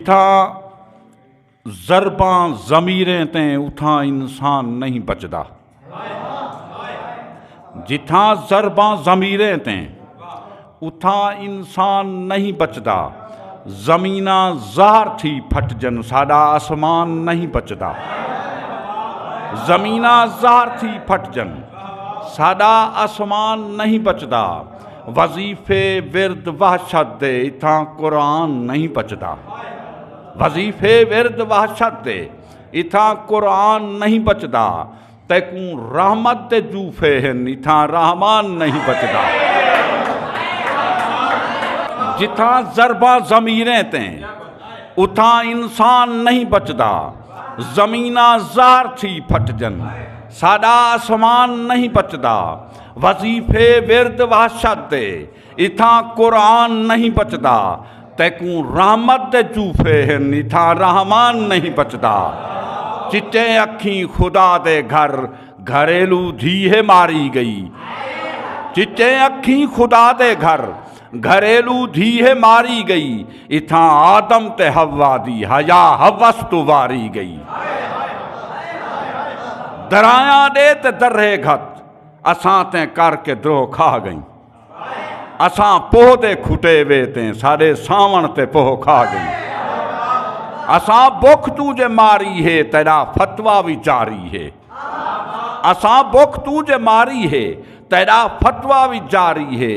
اتھاں ضرباں ضمیریں تے اتھاں انسان نہیں بچدا جتھاں ضرباں ضمیریں تے اتھاں انسان نہیں بچدا زمینہ زہر تھی پھٹ جن ساڈا آسمان نہیں بچدا زمینہ زہر تھی پھٹ جن ساڈا آسمان نہیں بچدا وظیفے ورد وحشت دے اتھاں قرآن نہیں بچدا وظیفے ورد وحشت دے اتھاں قرآن نہیں بچدا تیکوں رحمت دے جوفے ہن اتھاں رحمان نہیں بچدا جتھاں ضربہ ضمیریں تے اتھاں انسان نہیں بچدا زمینہ زہر تھی پھٹ جن ساڈا آسمان نہیں بچدا وظیفے ورد وحشت دے اتھاں قرآن نہیں بچدا تیکوں رحمت دے چوفے ہن اتھاں رحمان نہیں بچدا چٹے اکھیں خدا دے گھر گھریلو دھی ہے ماری گئی چٹے اکھیں خدا دے گھر گھریلو دھی ہے ماری گئی اتھاں آدم تے ہوا دی حیا حوس تو واری گئی درایاں دے تے درے گھت اساں تیں کر کے دروہ کھا گئیں اساں پوہ دے کھٹے وے تیں سارے ساون تے پوہ کھا گئیں اساں بک تو جے ماری ہے تیرا فتوا بھی جاری ہے اساں بک تو جے ماری ہے تیرا فتوا بھی جاری ہے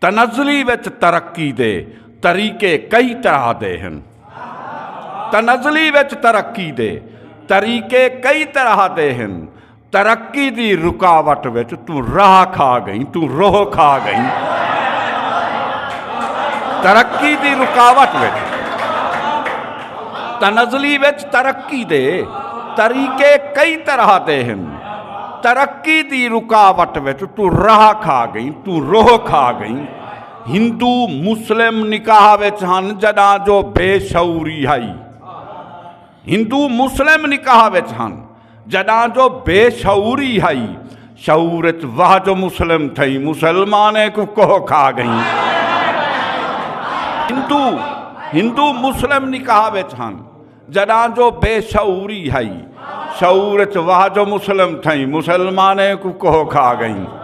تنزلی وچ ترقی دے طریقے کئی طرح دے ہن تنزلی وچ ترقی دے طریقے کئی طرح دے ہن ترقی دی رکاوٹ وچ تو راہ کھا گئی تو روح کھا گئی ترقی دی رکاوٹ وچ تنزلی وچ ترقی دے طریقے کئی طرح دے ہن ترقی دی رکاوٹ وچ تو راہ کھا گئیں تو روح کھا گئیں ہندو مسلم نکاح وچ ہن جڈاں جو بے شعوری ہائی ہندو مسلم نکاح وچ ہن جڈاں جو بے شعوری ہائی شعور وچ واہ جو مسلم تھئی مسلمانے کو کوہ کھا گئیں ہندو ہندو مسلم نکاح وچ ہن جڈاں جو بے شعوری ہئی شعور اچ واہ جو مسلم تھئیں مسلمانیں کو کوہ کھا گئیں